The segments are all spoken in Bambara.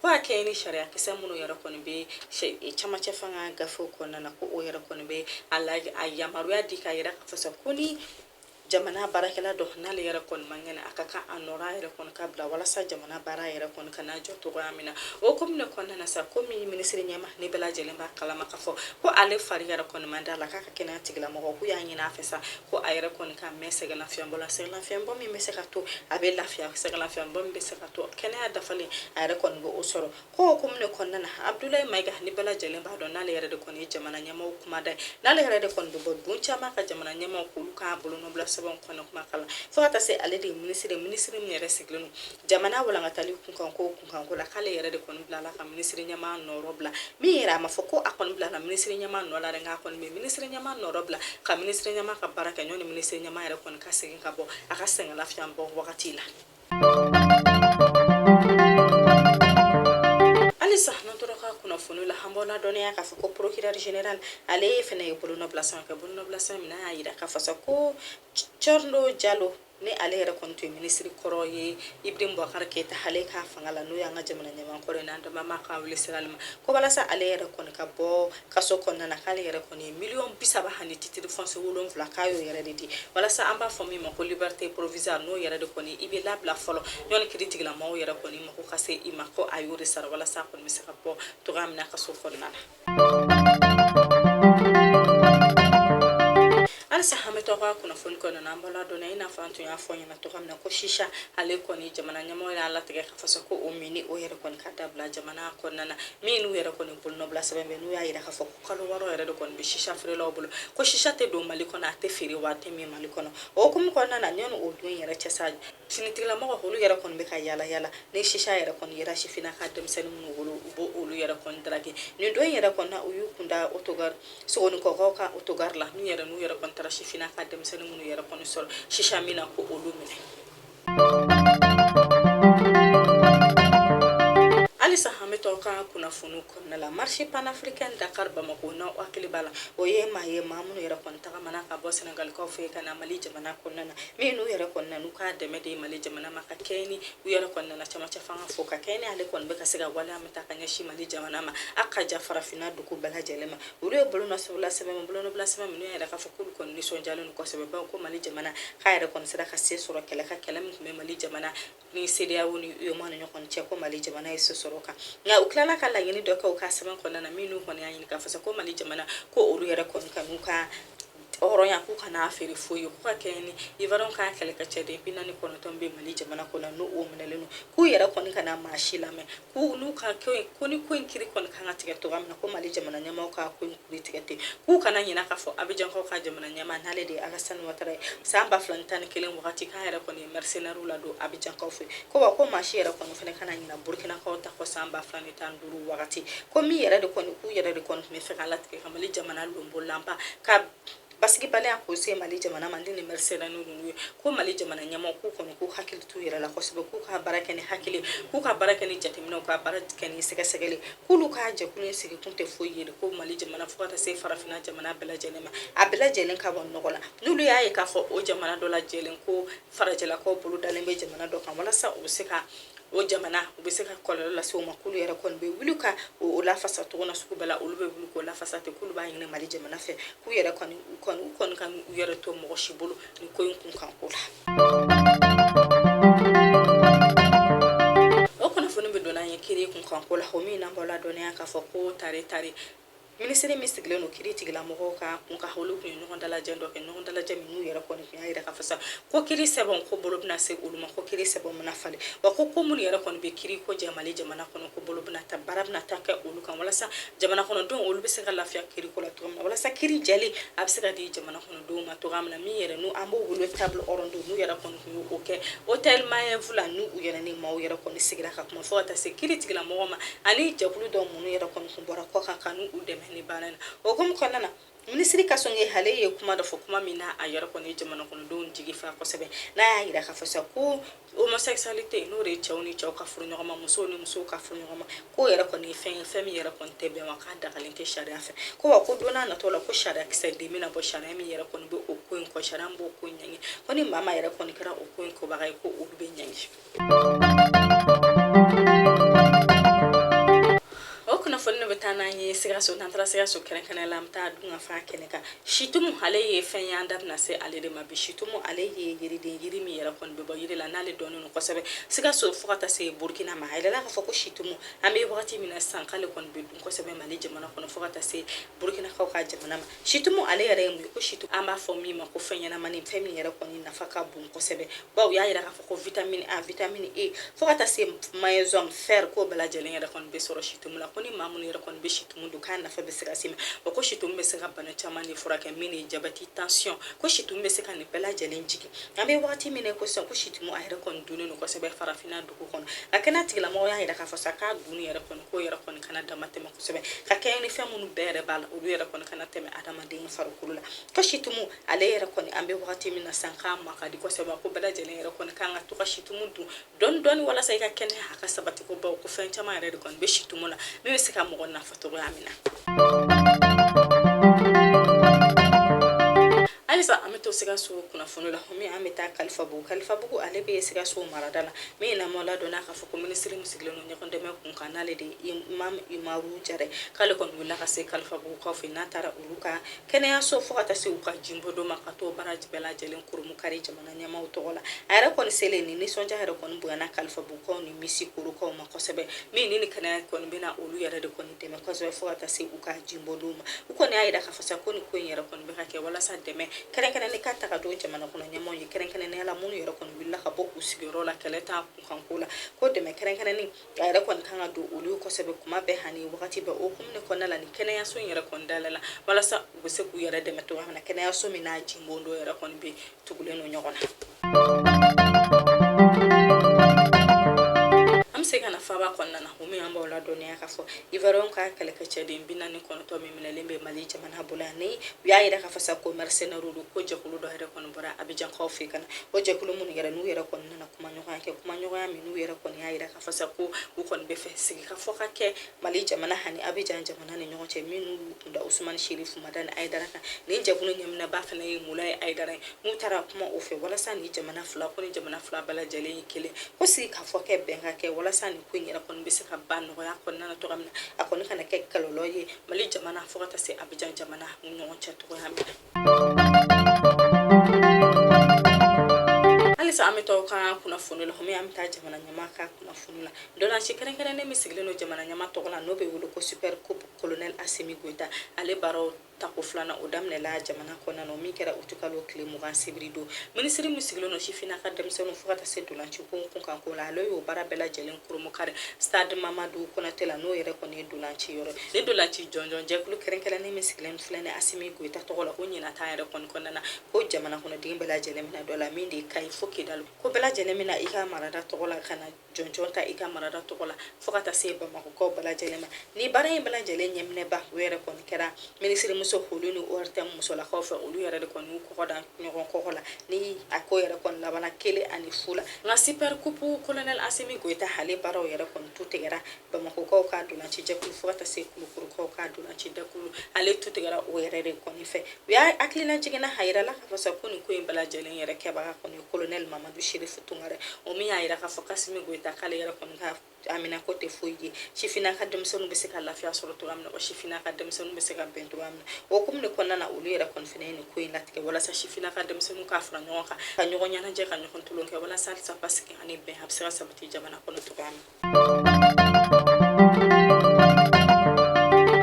Ko a kɛ ni sariyakisɛ minnu yɛrɛ kɔni bɛ camancɛ fanga gafew kɔnɔna na ko o yɛrɛ kɔni bɛ a la a yamaruya di k'a yira k'a fɔ sa ko ni jamana baarakɛla dɔ n'ale yɛrɛ kɔni man kɛnɛ a ka kan a nɔrɔ yɛrɛ kɔni ka bila walasa jamana baara yɛrɛ kɔni kana jɔ cogoya min na o hukumu de kɔnɔna na sa komi minisiri ɲɛmaa ni bɛɛ lajɛlen b'a kalama k'a fɔ ko ale fari yɛrɛ kɔni man di a la k'a ka kɛnɛya tigilamɔgɔw y'a ɲini a fɛ sa ko a yɛrɛ kɔni ka mɛn sɛgɛnlafiɲɛbɔ la sɛgɛnlafiɲɛbɔ min bɛ se ka to a bɛ lafiya sɛgɛnlafiɲɛbɔ min bɛ se ka to kɛnɛya dafalen a yɛrɛ kɔni b'o sɔrɔ k'o hukumu de kɔnɔna na abudulayi mayiga ni bɛɛ lajɛlen b'a dɔn n'ale yɛrɛ de kɔni ye jamana ɲɛmaaw kumada ye n'ale yɛrɛ de kɔni bɛ bɔ don caman ka jamana ɲɛmaaw k'olu ka bolonɔbila sɛbɛnw kɔnɔ kuma kalan fo ka taa se ale de ye minisiri ye minisiri min yɛrɛ sigilen don jamana walangatali kunkan ko kunkanko la k'ale yɛrɛ de kɔni bilala ka minisiri ɲɛmaa nɔrɔ bila min yɛrɛ a ma fɔ ko a kɔni bilala minisiri ɲɛmaa nɔ la dɛ nka a kɔni bɛ minisiri ɲɛmaa nɔrɔ bila ka minisiri ɲɛmaa ka baara kɛ ɲɔni minisiri ɲɛmaa yɛrɛ kɔni ka segin ka bɔ a ka sɛgɛn lafiɲɛbɔ wagati la ale ye fana ye bolonɔbila sɛbɛn kɛ bolonɔbila sɛbɛn min y'a yira k'a fɔ sa ko cɔrino jalo ni ale yɛrɛ kɔni tun ye minisiri kɔrɔ ye ibrahim bubakari keyita ale ka fanga la n'o y'an ka jamana ɲɛmaa kɔrɔ ye n'an dama ma k'a wuli sira ma ko walasa ale yɛrɛ kɔni ka bɔ kaso kɔnɔna na k'ale yɛrɛ kɔni ye miliyɔn bi saba ani titiri fɔnsiye wolonwula k'a y'o yɛrɛ de di walasa an b'a fɔ min ma ko liberté provisoire n'o yɛrɛ de kɔni i bɛ labila fɔlɔ ɲɔni kiiri tigilamɔgɔw yɛrɛ kɔni mako ka se i ma ko a y'o de sara walasa a kɔni bɛ se ka bɔ cogoya min na kaso kɔnɔna na halisa an bɛ to an ka kunnafoni kɔnɔna na an b'aw ladɔnniya i n'a fɔ an tun y'a fɔ ɲɛ na cogoya min na ko sisa ale kɔni jamana ɲɛmɔgɔ y'a latigɛ k'a fɔ sa ko o minni o yɛrɛ kɔni ka dabila jamana kɔnɔna na min n'u yɛrɛ kɔni bolonɔbila sɛbɛn bɛ n'u y'a yira k'a fɔ ko kalo wɔɔrɔ yɛrɛ de kɔni bɛ sisa feerelaw bolo ko sisa tɛ don mali kɔnɔ a tɛ feere wa a tɛ min mali kɔnɔ o hukumu kɔnɔna na ɲɔni o don yɛrɛ cɛ sa finitigilamɔgɔ olu yɛrɛ kɔni bɛ ka yaala yaala ni sisa yɛrɛ kɔni yera sifina ka denmisɛnnin minnu bolo u b'olu yɛrɛ kɔni daraki nin don yɛrɛ kɔnɔna u y'u kunda otogari sogoninkɔkaw ka otogari la n'u yɛrɛ n'u yɛrɛ kɔni taara sifina ka denmisɛnnin minnu yɛrɛ kɔni sɔrɔ sisa min na k'olu minɛ halisa an bɛ to an ka kunnafoniw kɔnɔna la marche panafricaine dakar bamako n'aw hakili b'a la o ye maa ye maa minnu yɛrɛ kɔni tagamana ka bɔ senegalikaw fɛ ka na mali jamana kɔnɔna na min n'u yɛrɛ kɔni na n'u ka dɛmɛ di mali jamana ma ka kɛɲɛ ni u yɛrɛ kɔni nana camancɛ fanga fo ka kɛɲɛ ni ale kɔni bɛ ka se ka waleya min ta ka ɲɛsin mali jamana ma a ka ja farafinna dugu bɛɛ lajɛlen ma olu ye bolonɔbila sɛbɛn bolonɔbila sɛbɛn minnu y'a yira k'a fɔ k'olu kɔni nisɔndiyalen don kosɛbɛba ko mali jamana k'a yɛrɛ kɔni sera ka se sɔrɔ kɛlɛ kan kɛlɛ min tun bɛ mali jamana ni CEDEAO ni UEMOA ni ɲɔgɔn cɛ ko mali jamana ye se sɔrɔ a kan nka u tilala ka laɲini dɔ kɛ u ka sɛbɛn kɔnɔna na minnu kɔni y'a ɲini k'a fɔ sa ko mali jamana ko olu yɛrɛ kɔni ka n'u ka hɔrɔnya k'u kana a feere foyi ye k'u ka kɛ ni iwariyɛnw ka kɛlɛkɛcɛ den bi naani kɔnɔntɔn bɛ mali jamana kɔnɔ n'o o minɛlen don k'u yɛrɛ kɔni kana maa si lamɛn k'u n'u ka ko in ko ni ko in kiri kɔni kan ka tigɛ cogoya min na ko mali jamana ɲɛmaaw ka ko in kiri tigɛ ten k'u kana ɲinɛ k'a fɔ abijankaw ka jamana ɲɛmaa n'ale de ye alasani watara ye san ba fila ni tan ni kelen wagati k'a yɛrɛ kɔni ye mɛrisenɛriw ladon abijankaw fɛ ko wa ko maa si yɛrɛ kɔni fana kana ɲinɛ burukinakaw ta kɔ san ba fila ni tan duuru wagati ko min yɛrɛ de kɔni k'u yɛrɛ de kɔni tun bɛ fɛ ka latigɛ mali jamana lonbolanba ka basigibaliya k'o se mali jamana ma ni nin mɛrisenɛri ninnu ye ko mali jamana ɲɛmaaw k'u kɔni k'u hakili t'u yɛrɛ la kosɛbɛ k'u ka baara kɛ ni hakili k'u ka baara kɛ ni jateminɛw ka baara kɛ ni sɛgɛsɛgɛli k'olu ka jɛkulu in sigi kun tɛ foyi ye ko mali jamana fo ka taa se farafina jamana bɛɛ lajɛlen ma a bɛɛ lajɛlen ka bɔ nɔgɔ la n'olu y'a ye k'a fɔ o jamana dɔ lajɛlen ko farajɛlakaw bolo dalen bɛ jamana dɔ kan walasa u bɛ se ka o jamana u bɛ se ka kɔlɔlɔ lase o ma k'olu yɛrɛ kɔni bɛ wuli ka o lafasa cogoya sugu bɛɛ la olu bɛ wuli k'o lafasa ten k'olu b'a ɲini mali jamana fɛ k'u yɛrɛ kɔni u kɔni u kɔni kana u yɛrɛ to mɔgɔ si bolo nin ko in kun kan ko la o kunnafoni bɛ don n'an ye kiri kun kan ko la o min na an b'aw ladɔnniya k'a fɔ ko tare tare Minisiri min sigilen don kiri tigila mɔgɔw ka kun kan olu tun ye ɲɔgɔn dalajɛ dɔ kɛ ɲɔgɔn dalajɛ min n'u yɛrɛ kɔni tun y'a jira k'a fɔ sa ko kiri sɛbɛn ko bolo bɛna se olu ma ko kiri sɛbɛn bɛna falen wa ko ko minnu yɛrɛ kɔni bɛ kiri ko jɛ mali jamana kɔnɔ ko bolo bɛna ta baara bɛna ta kɛ olu kan walasa jamana kɔnɔdenw olu bɛ se ka lafiya kiri ko la cogo min na walasa kiri jɛlen a bɛ se ka di jamana kɔnɔ denw ma cogoya min na min yɛrɛ n'u an b'o wele table ronde n'u yɛrɛ kɔni tun y'o kɛ hôtel Maeva la n'u yɛrɛ ni maaw yɛrɛ kɔni sigira ka kuma fo ka taa se kiri tigilamɔgɔ ma ani jɛkulu dɔw minnu yɛrɛ kɔni tun bɔra kɔkan ka n'u dɛmɛ ni baara na o hukumu kɔnɔna na minisiri kasɔge ale ye kuma dɔ fɔ kuma min na a yɛrɛ kɔni ye jamanakɔnɔdenw jigi fa kosɛbɛ n'a y'a yira k'a fɔ sa ko Homosexualité n'o de ye cɛw ni cɛw ka furu ɲɔgɔn ma musow ni musow ka furu ɲɔgɔn ma k'o yɛrɛ kɔni ye fɛn ye fɛn min yɛrɛ kɔni tɛ bɛn wa k'a dagalen tɛ sariya fɛ ko wa ko don nataw la ko sariya kisɛ den bɛna bɔ sariya min yɛrɛ kɔni bɛ o ko in kɔn sariya b'o ko in ɲangi ko ni maa yɛrɛ kɔni kɛra o ko in kɛbaga ye ko olu bɛ ɲangi o kunnafoni in bɛ taa n'an ye sikaso n'an taara sikaso kɛrɛnkɛrɛnnen la an bɛ taa dunkafa kɛnɛ kan Situmu ale ye fɛn ye an da bɛna se ale de ma bi situmu ale ye yiriden yiri min yɛrɛ kɔni bɛ bɔ yiri la n'ale dɔnnen don kosɛbɛ sikaso fo ka taa se burukina ma a yirala k'a fɔ ko situmu an bɛ wagati min na sisan k'ale kɔni bɛ dun kosɛbɛ mali jamana kɔnɔ fo ka taa se burukinakaw ka jamana ma situmu ale yɛrɛ ye mun ye ko situmu an b'a fɔ min ma ko fɛn ɲɛnamani fɛn min yɛrɛ kɔni nafa ka bon kosɛbɛ bawo u y'a yira k'a fɔ ko vitamini a vitamini e fo ka taa se maɲeziyɔmu fɛri k'o bɛɛ lajɛlen yɛrɛ kɔni bɛ sɔrɔ situmu la ko ni maa minnu yɛrɛ kɔni bɛ situ tumu dun k'a nafa bɛ se ka se ma wa ko situmu bɛ se ka bana caman de furakɛ min ye jabɛti tansiyɔn ko situmu bɛ se ka nin bɛɛ lajɛlen jigin an bɛ wagati min na ko sisan ko situmu a yɛrɛ kɔni dunnen don kosɛbɛ farafinna dugu kɔnɔ a kɛnɛ tigilamɔgɔ y'a yira k'a fɔ sa k'a dunni yɛrɛ kɔni k'o yɛrɛ kɔni kana dama tɛmɛ kosɛbɛ ka kɛɲɛ ni fɛn minnu bɛɛ yɛrɛ b'a la olu yɛrɛ kɔni kana tɛmɛ adamaden farikolo la ko situmu ale yɛrɛ kɔni an bɛ wagati min na sisan k'a ma ka di kosɛbɛ ko bɛɛ lajɛlen yɛrɛ kɔni kan ka to ka situmu dun dɔɔni dɔɔni walasa i ka kɛnɛya a ka sabati ko bawo ko fɛn caman yɛrɛ de kɔni bɛ situmu la min bɛ se ka mɔgɔ nafa cogoya min na halisa an bɛ to sikaso kunnafoni la min an bɛ taa kalifabugu kalifabugu ale bɛ sikaso marada la min an b'aw ladɔnniya k'a fɔ ko minisiri min sigilen don ɲɔgɔn dɛmɛ kun kan n'ale de ye imam umaru jara k'ale kɔni wulila ka se kalifabugu kaw fɛ n'a taara olu ka kɛnɛyaso fo ka taa se u ka jibondon ma ka t'o baara bɛɛ lajɛlen kurumukari jamana ɲɛmaaw tɔgɔ la a yɛrɛ kɔni selen ni nisɔndiya yɛrɛ kɔni bonyana kalifabugukaw ni misikorokaw ma kosɛbɛ min ni ni kɛnɛya kɔni bɛna olu yɛrɛ de kɔni dɛmɛ kosɛbɛ fo ka taa se u ka jibondon ma u kɔni y'a yira k'a fɔ sa ko nin ko in yɛrɛ kɔni bɛ ka kɛ walasa dɛmɛ kɛrɛnkɛrɛnnen ka taga don jamana kɔnɔ ɲɛmaaw ye kɛrɛnkɛrɛnnenya la minnu yɛrɛ kɔni wulila ka bɔ u sigiyɔrɔ la kɛlɛ t'a kunkanko la ko dɛmɛ kɛrɛnkɛrɛnnen a yɛrɛ kɔni kan ka don olu kosɛbɛ kuma bɛɛ hani wagati bɛɛ o hukumu kɔnɔna la ni kɛnɛyaso in yɛrɛ kɔni dayɛlɛla walasa u bɛ se k'u yɛrɛ dɛmɛ cogoya min na kɛnɛyaso min n'a jibondon yɛrɛ kɔni bɛ tugulen don ɲɔgɔn na an bɛ se ka na faaba kɔnɔna na o min an b'aw ladɔnniya k'a fɔ iwariyɛn ka kɛlɛkɛcɛden bi naani kɔnɔntɔn min minɛlen bɛ mali jamana bolo yan ni u y'a yira k'a fɔ sa ko mɛrisɛnɛriw don ko jɛkulu dɔ yɛrɛ kɔni bɔra abijankaw fɛ ka na o jɛkulu minnu yɛrɛ n'u yɛrɛ kɔni na kuma ɲɔgɔnya kɛ kuma ɲɔgɔnya min n'u yɛrɛ kɔni y'a yira k'a fɔ sa ko u kɔni b'a fɛ sigi ka fɔ ka kɛ mali jamana ani abijan jamana ni ɲɔgɔn cɛ minnu tun da usumani sherifu madani ayidara kan nin jɛkulu ɲɛminɛba fana ye mulaye ayidara ye n'u taara kuma o fɛ walasa ni jamana fila ko ni jamana fila bɛɛ lajɛlen ye kelen ko sigi ka fɔ kɛ bɛn ka kɛ walasa nin ko in yɛrɛ kɔni bɛ se ka ban nɔgɔya kɔnɔna na cogoya min na a kɔni kana kɛ kɛlɛ dɔ ye mali jamana fo ka taa se abijan jamana ni ɲɔgɔn cɛ cogoya min na halisa an bɛ to aw ka kunnafoni la min an bɛ taa jamana ɲɛmaa ka kunnafoni la ntolaci kɛrɛnkɛrɛnnen min sigilen don jamana ɲɛmaa tɔgɔ la n'o bɛ wele ko super coupe colonel asimi goyita ale baaraw tako filanan o daminɛla jamana kɔnɔna o min kɛra utikalo tile mugan sibiri don minisiri min sigilen don sifina ka denmisɛnninw fo ka taa se ntolaci ko kunkanko la ale y'o baara bɛɛ lajɛlen kurumukari stade mamadu konate la n'o yɛrɛ kɔni ye ntolaci yɔrɔ ni ntolaci jɔnjɔn jɛkulu kɛrɛnkɛrɛnnen min sigilen filɛ asimi goyita tɔgɔ la ko ɲinan ta yɛrɛ kɔni kɔnɔna na ko jamana kɔnɔden bɛɛ lajɛlen mina dɔ la min de kayi fo kidali ko bɛɛ lajɛlen mina i ka marada tɔgɔ la ka na jɔnjɔn ta i ka marada tɔgɔ la fo ka taa se bamakɔkaw bɛɛ lajɛlen ma ni baara in bɛɛ lajɛlen ɲɛminɛba o yɛrɛ kɔni kɛra minisirimuso koli ni ortm musolakaw fɛ olu yɛrɛ de kɔni y'u kɔgɔ da ɲɔgɔn kɔgɔ la ni a ko yɛrɛ kɔni labana kelen ani fu la nka sipɛrikupu kolonɛl asimi goyita ale baaraw yɛrɛ kɔni tu tigɛra bamakɔkaw ka ntolaci jɛkulu fo ka taa se kulukɔrɔkaw ka ntolaci jɛkulu ale tu tigɛra o yɛrɛ de kɔni fɛ u y'a hakilina jiginna a yirala k'a fɔ sa ko nin ko in bɛɛ lajɛlen yɛrɛ kɛbaga kɔni kolonɛli mamadu sherifu tunkara o min y'a yira k'a fɔ k'asimi goyita k'ale yɛrɛ kɔni ka haminako tɛ foyi ye sifina ka denmisɛnninw bɛ se ka lafiya sɔrɔ cogoya min na wa sifina ka denmisɛnninw bɛ se ka bɛn cogoya min na o hukumu de kɔnɔna na olu yɛrɛ kɔni fana ye nin ko in latigɛ walasa sifina ka denmisɛnninw ka fara ɲɔgɔn kan ka ɲɔgɔn ɲɛnajɛ ka ɲɔgɔn tulon kɛ walasa halisa basigi ani bɛn a bɛ se ka sabati jamana kɔnɔ cogoya min na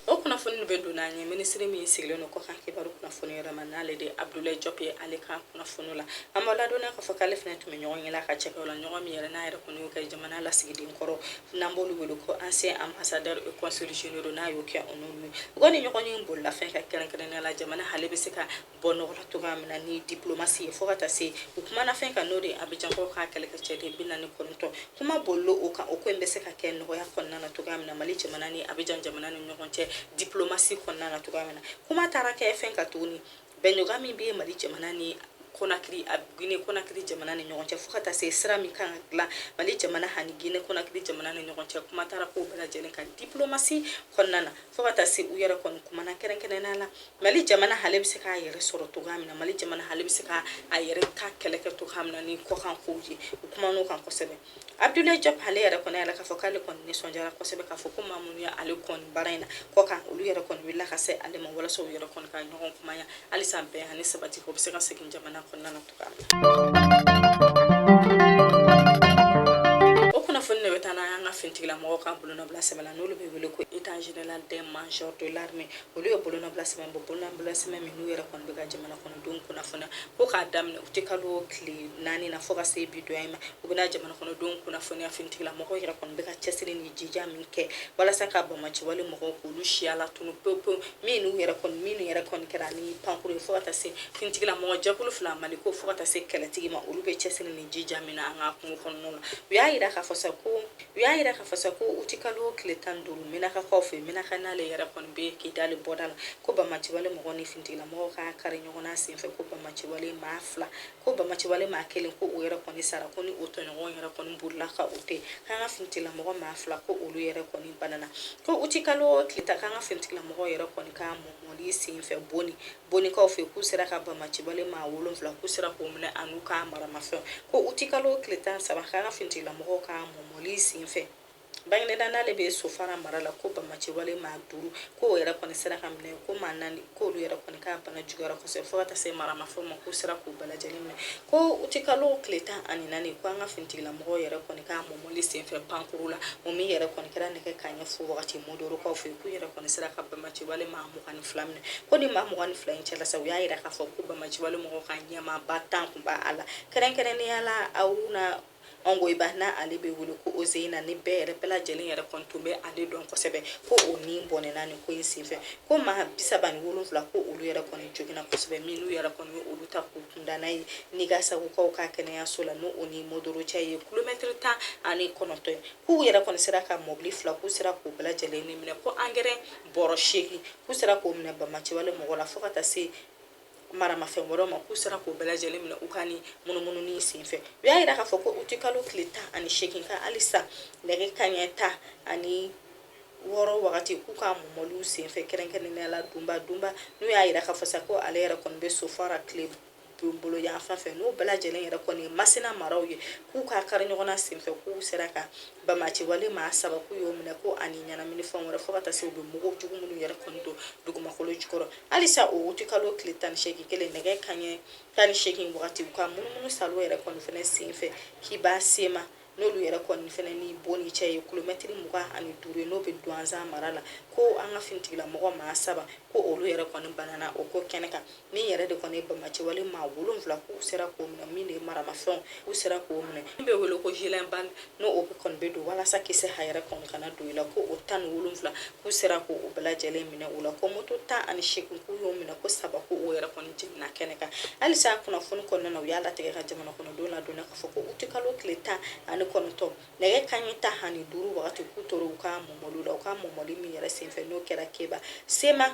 o kunnafoni bɛ don n'an ye minisiri min sigilen don kɔkan kibaru kunnafoni yɛrɛ ma n'ale de abudulayi jɔp ye ale ka kunnafoni la a b'an ladɔnniya k'a fɔ k'ale fana tun bɛ ɲɔgɔnye la ka cɛkɛw la ɲɔgɔn min yɛrɛ n'a yɛrɛ kɔni y'o kɛ jamana lasigiden kɔrɔ n'an b'olu wele ko ancien ambassadeur et consul généraux n'a y'o kɛ o n'olu ye u kɔni ɲɔgɔnye bolila fɛn kan kɛrɛnkɛrɛnnenya la jamana hale bɛ se ka bɔ nɔgɔ la cogoya min na ni diplomasi ye fo ka taa se u kumana fɛn kan n'o de abijankaw ka kɛlɛkɛcɛden bi naani kɔnɔntɔn kuma bolila o kan o ko in bɛ se ka kɛ nɔgɔya kɔnɔna na cogoya min na mali jamana ni abijan jamana ni ɲɔgɔn cɛ diplomasi kɔnɔna na cogoya min na kuma taara kɛ fɛn kan tuguni bɛnɲɔgɔn min bɛ mali jamana ni konakiri a gine konakiri jamana ni ɲɔgɔn cɛ fo ka taa se sira min kan ka dilan mali jamana ani gine konakiri jamana ni ɲɔgɔn cɛ kuma taara k'o bɛɛ lajɛlen kan diplomasi kɔnɔna na fo ka taa se u yɛrɛ kɔni kumana kɛrɛnkɛrɛnnenya la mali jamana hale bɛ se k'a yɛrɛ sɔrɔ cogoya min na mali jamana hale bɛ se ka a yɛrɛ ka kɛlɛ kɛ cogoya min na ni kɔkan kow ye u kuman'o kan kosɛbɛ abdulayi jɔp ale yɛrɛ kɔni y'a yira k'a fɔ k'ale kɔni nisɔndiyara kosɛbɛ k'a fɔ ko maa minnu ye ale kɔni baara in na kɔkan olu yɛrɛ kɔni wulila ka se ale ma walasa u yɛrɛ kɔni ka ɲɔgɔn kumaya halisa bɛn ani sabati o bɛ se ka segin jamana kɔnɔna na o kunnafoni de bɛ taa n'an ye an ka finitigilamɔgɔw ka bolonɔbila sɛbɛn la n'olu bɛ wele ko état général des majors de l'armée olu ye bolonɔbila sɛbɛn bɔ bolonɔbila sɛbɛn min n'u yɛrɛ kɔni bɛ ka jamana kɔnɔdenw kunnafoniya ko k'a daminɛ uti kalo tile naani na fo ka se bi don ma u bɛna jamana kɔnɔdenw kunnafoniya finitigilamɔgɔw yɛrɛ kɔni bɛ ka cɛsiri ni jija min kɛ walasa ka banbaanciwale mɔgɔw k'olu siya latunu pewu pewu minnu yɛrɛ kɔni min yɛrɛ kɔni kɛra ni pankuru ye fo ka taa se finitigila mɔgɔ jɛkulu fila maliko fo ka taa se kɛlɛtigi ma olu bɛ cɛsiri ni jija min na an ka kungo kɔnɔna la u y'a yira k'a fɔ sa ko uti kalo tile tan duuru menakakaw fɛ menaka n'ale yɛrɛ kɔni bɛ kidali bɔda la ko banbaanciwale mɔgɔ ni finitigila mɔgɔ ka kari ɲɔgɔnna senfɛ ko banbaanciwale maa fila ko banbaanciwale maa kelen ko o yɛrɛ kɔni sara ko ni o tɔɲɔgɔn yɛrɛ kɔni bolila ka o tɛ k'an ka finitigilamɔgɔ maa fila ko olu yɛrɛ kɔni banana ko uti kalo tile tan k'an ka finitigilamɔgɔ yɛrɛ kɔni ka mɔmɔli sen fɛ boni bonikaw fɛ k'u sera ka banbaanciwale maa wolonfila k'u sera k'o minɛ an'u ka maramafɛnw ko uti kalo tile tan saba k'an ka finitigilamɔgɔw ka mɔmɔli sen fɛ Bangineda n'ale bɛ sofara mara la ko bamaciwale maa duuru k'o yɛrɛ kɔni sera ka minɛ ko maa naani k'olu yɛrɛ kɔni ka bana juguyara kosɛbɛ fo ka taa se maramafɛn ma k'u sera k'u bɛɛ lajɛlen minɛ ko utikalo tile tan ani naani ko an ka finitigilamɔgɔ yɛrɛ kɔni ka mɔmɔli senfɛ pankuru la o min yɛrɛ kɔni kɛra nɛgɛ kaɲɛ fo wagati Mondorokaw fɛ k'u yɛrɛ kɔni sera ka bamaciwale maa mugan ni fila minɛ ko ni maa mugan ni fila in cɛla sa u y'a yira k'a fɔ ko bamaciwale mɔgɔ ka ɲɛmaaba tan tun b'a la kɛrɛnkɛrɛnnenya la aw na Ongoiba n'ale bɛ wele ko Ozeyina ni bɛɛ yɛrɛ bɛɛ lajɛlen yɛrɛ kɔni tun bɛ ale dɔn kosɛbɛ ko o ni bɔnɛna nin ko in senfɛ ko maa bi saba ni wolonwula ko olu yɛrɛ kɔni joginna kosɛbɛ minnu yɛrɛ kɔni ye olu ta k'u kunda n'a ye Niangasagukaw ka kɛnɛyaso la n'o o ni Mondoro cɛ ye kilomɛtiri tan ani kɔnɔntɔn ye k'u yɛrɛ kɔni sera ka mɔbili fila k'u sera k'u bɛɛ lajɛlen ni minɛ ko angɛrɛ bɔrɔ seegin k'u sera k'o minɛ bamaciwale mɔgɔ la fo ka taa se maramafɛn wɛrɛw ma k'u sera k'o bɛɛ lajɛlen minɛ u ka ni munumununi sen fɛ u y'a jira k'a fɔ ko utikalo tile tan ani seegin kan halisa nɛgɛ kaɲɛ tan ani wɔɔrɔ wagati k'u ka mɔmɔliw senfɛ kɛrɛnkɛrɛnnenya la dunba dunba n'u y'a jira k'a fɔ sa ko ale yɛrɛ kɔni bɛ sofara tile bolo yan fan fɛ n'o bɛɛ lajɛlen yɛrɛ kɔni ye masina maraw ye k'u ka kari ɲɔgɔnna senfɛ k'u sera ka Bamaciwale maa saba k'u y'o minɛ ko ani ɲɛnamini fɛn wɛrɛ fo ka taa se u bɛ mugu jugu minnu yɛrɛ kɔni don dugumakolo jukɔrɔ halisa o wutikalo tile tan seegin kelen nɛgɛ kaɲɛ tan ni seegin wagati u ka munumunu salo yɛrɛ kɔni fana sen fɛ Keba Sema n'olu yɛrɛ kɔni fana ni Boni cɛ ye kilomɛtiri mugan ani duuru ye n'o bɛ duwanzan mara la ko an ka finitigilamɔgɔ maa saba ko olu yɛrɛ kɔni banana o ko kɛnɛ kan min yɛrɛ de kɔni ye bamaciwale maa wolonwula k'u sera k'o minɛ min de ye maramafɛnw u sera k'o minɛ min bɛ wele ko gilet balles n'o o kɔni bɛ don walasa kisɛ a yɛrɛ kɔni kana don i la ko o tan ni wolonwula k'u sera ko o bɛɛ lajɛlen minɛ o la ko moto tan ani seegin k'u y'o minɛ ko saba ko o yɛrɛ kɔni jeninna kɛnɛ kan halisa kunnafoni kɔnɔna na u y'a latigɛ ka jamana kɔnɔdenw ladɔnniya k'a fɔ ko utikalo tile tan ani kɔnɔntɔn nɛgɛ kaɲɛ tan ani duuru wagati k'u tora u ka mɔmɔli la u ka mɔmɔli min yɛrɛ senfɛ n'o kɛra keba sema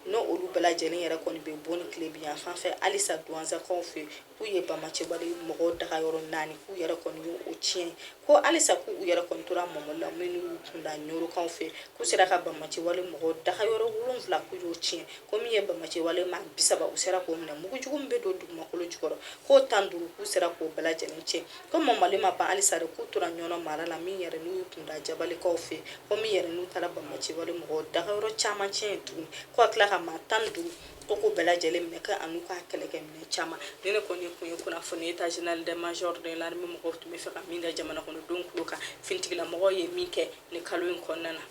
n'o olu bɛɛ lajɛlen yɛrɛ kɔni bɛ Boni tilebin yan fan fɛ halisa duwanzankaw fɛ yen k'u ye bamaciwale mɔgɔw daga yɔrɔ naani k'u yɛrɛ kɔni y'o tiɲɛ ko halisa k'u yɛrɛ kɔni tora mɔmɔli la minnu y'u kunda ɲorokaw fɛ k'u sera ka bamaciwale mɔgɔw daga yɔrɔ wolonwula k'u y'o tiɲɛ ko min ye bamaciwale maa bisaba u sera k'o minɛ mugu jugu min bɛ don dugumakolo jukɔrɔ k'o tan duuru k'u sera k'o bɛɛ lajɛlen tiɲɛ ko mɔmɔli ma ban halisa de k'u tora ɲɔnɔ mara la min yɛrɛ n'u y'u kunda jabalikaw fɛ ko min yɛrɛ n'u taara bamaciwale mɔgɔw dagayɔrɔ caman tiɲɛ ye tuguni ko ka tila ka maa tan duuru ko k'u bɛɛ lajɛlen minɛ ka an'u ka kɛlɛkɛminɛn caman nin in kɔni tun ye kunnafoni état général de major de l'armée mɔgɔw tun bɛ fɛ ka min da jamana kɔnɔdenw tulo kan finitigilamɔgɔw ye min kɛ ni kalo in kɔnɔna na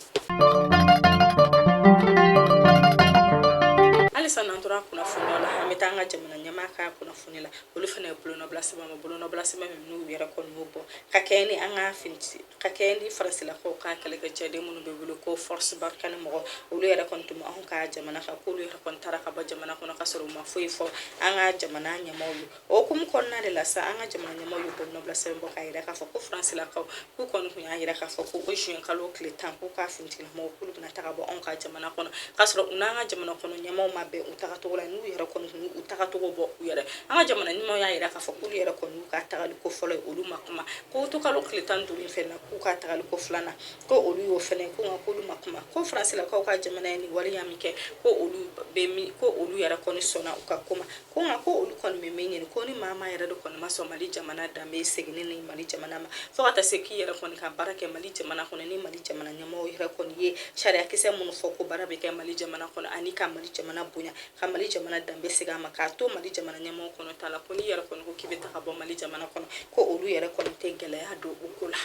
halisa n'an tora kunnafoniya la an bɛ taa an ka jamana ɲɛmaa ka kunnafoni la olu fana ye bolonɔbila sɛbɛn ma bolonɔbila sɛbɛn min n'u yɛrɛ kɔni y'o bɔ ka kɛɲɛ ni an ka fini ka kɛɲɛ ni farasilakaw ka kɛlɛkɛcɛden minnu bɛ wele ko force barkhane mɔgɔ olu yɛrɛ kɔni tun anw ka jamana kan k'olu yɛrɛ kɔni taara ka bɔ jamana kɔnɔ ka sɔrɔ u ma foyi fɔ an ka jamana ɲɛmaaw ye O hukumu kɔnɔna de la sa an ka jamana ɲɛmaaw ye bolonɔbila sɛbɛn bɔ k'a jira k'a fɔ ko faransilakaw k'u kɔni tun y'a jira k'a fɔ ko o juin kalo tile tan ko k'u ka finitigilamɔgɔw k'olu bɛna taga bɔ anw ka jamana kɔnɔ k'a sɔrɔ u n'an ka jamana kɔnɔ ɲɛmaaw ma bɛn u tagacogo la n'u yɛrɛ kɔni tun u tagacogo bɔ u yɛrɛ an ka jamana ɲɛmaaw y'a jira k'a fɔ k'olu yɛrɛ kɔni y'u ka tagali ko fɔlɔ ye olu ma kuma ko août kalo tile tan duuru in fɛnɛ k'u ka tagali ko filanan ko olu y'o fɛnɛ ko nka k'olu ma kuma ko faransilakaw ka jamana ye nin waleya min kɛ ko olu bɛ min ko olu yɛrɛ kɔni sɔnna u ka kuma ko nka ko olu kɔni bɛ min ɲini ko ni maa maa yɛrɛ de kɔni ma sɔn mali jamana danbe seginni ni mali jamana ma fo ka taa se k'i yɛrɛ kɔni ka baara kɛ mali jamana kɔnɔ ni mali jamana ɲɛmaaw yɛrɛ kɔni ye sariyakisɛ minnu fɔ ko baara bɛ kɛ mali jamana kɔnɔ ani ka mali jamana bonya ka mali jamana danbe segin a ma k'a to mali jamana ɲɛmaaw kɔni t'a la ko n'i yɛrɛ kɔni ko k'i bɛ taga bɔ mali jamana kɔnɔ ko olu yɛrɛ kɔni tɛ gɛlɛya don o ko la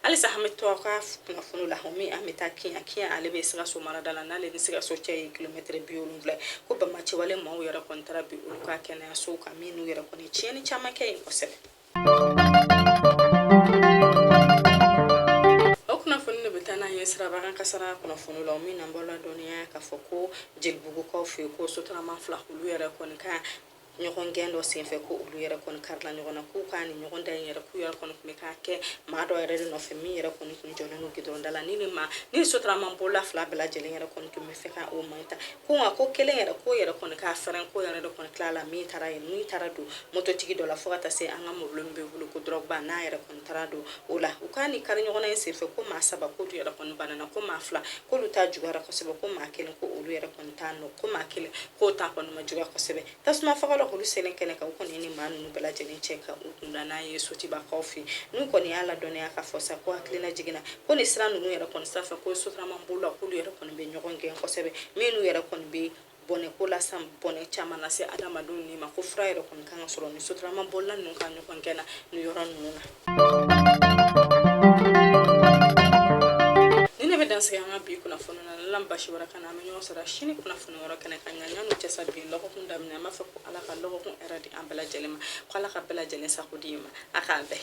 halisa an bɛ to aw ka kunnafoni la min an bɛ taa kiɲan kiɲan ale bɛ sikaso marada la n'ale ni sikaso cɛ ye kilomɛtiri bi wolonwula ko banbaanciwale maaw yɛrɛ kɔni taara bin olu ka kɛnɛyasow kan min n'u yɛrɛ kɔni tiɲɛni caman kɛ yen kosɛbɛ o kunnafoni de bɛ taa n'an ye siraba kan kasara kunnafoni la min n'an b'o ladɔnniya k'a fɔ ko jelibugukaw fɛ yen ko sotarama fila olu yɛrɛ kɔni ka ɲɔgɔn gɛn dɔ senfɛ ko olu yɛrɛ kɔni karila ɲɔgɔn na k'u ka nin ɲɔgɔndan in yɛrɛ k'u yɛrɛ kɔni tun bɛ k'a kɛ maa dɔ yɛrɛ de nɔfɛ min yɛrɛ kɔni tun jɔlen don gidɔrɔnda la ni ni ma ni sotarama bolila fila bɛɛ lajɛlen yɛrɛ kɔni tun bɛ fɛ ka o maa ta ko nka ko kelen yɛrɛ k'o yɛrɛ kɔni ka fɛrɛn k'o yɛrɛ de kɔni tila la min taara yen min taara don mototigi dɔ la fo ka taa se an ka mobili min bɛ wele ko drogba n'a yɛrɛ kɔni taara don o la u ka nin kari ɲɔgɔnna in senfɛ ko maa saba k'olu yɛrɛ kɔni banana ko maa fila k'olu ta juguyara kosɛbɛ ko maa kelen ko olu yɛrɛ kɔni t'a nɔ ko maa kelen k'o ta kɔni ma juguya kosɛbɛ tasumafagalaw k'olu selen kɛnɛ kan u kɔni ni maa ninnu bɛɛ lajɛlen cɛ ka u kunda n'an ye sotubakaw fɛ n'u kɔni y'a ladɔnniya k'a fɔ sa ko hakililajigin na ko ni sira ninnu yɛrɛ kɔni sanfɛ ko sotarama bolilaw k'olu yɛrɛ kɔni bɛ ɲɔgɔn gɛn kosɛbɛ minnu yɛrɛ kɔni bɛ bɔnɛ ko la sa bɔnɛ caman lase adamadenw ni ma ko fura yɛrɛ kɔni kan ka sɔrɔ ni sotarama bolila ninnu ka ɲɔgɔn gɛn na ni yɔrɔ ninnu na ni ne bɛ dan sigi an ka bi kunnafoni na ala ma baasi wɛrɛ k'an na an bɛ ɲɔgɔn sɔrɔ sini kunnafoni wɛrɛ kɛnɛ kan ɲa yanni o cɛ sa bi lɔgɔkun daminɛ an b'a fɔ ko ala ka lɔgɔkun hɛrɛ di an bɛɛ lajɛlen ma ko ala ka bɛɛ lajɛlen sago d'i ma a k'an bɛn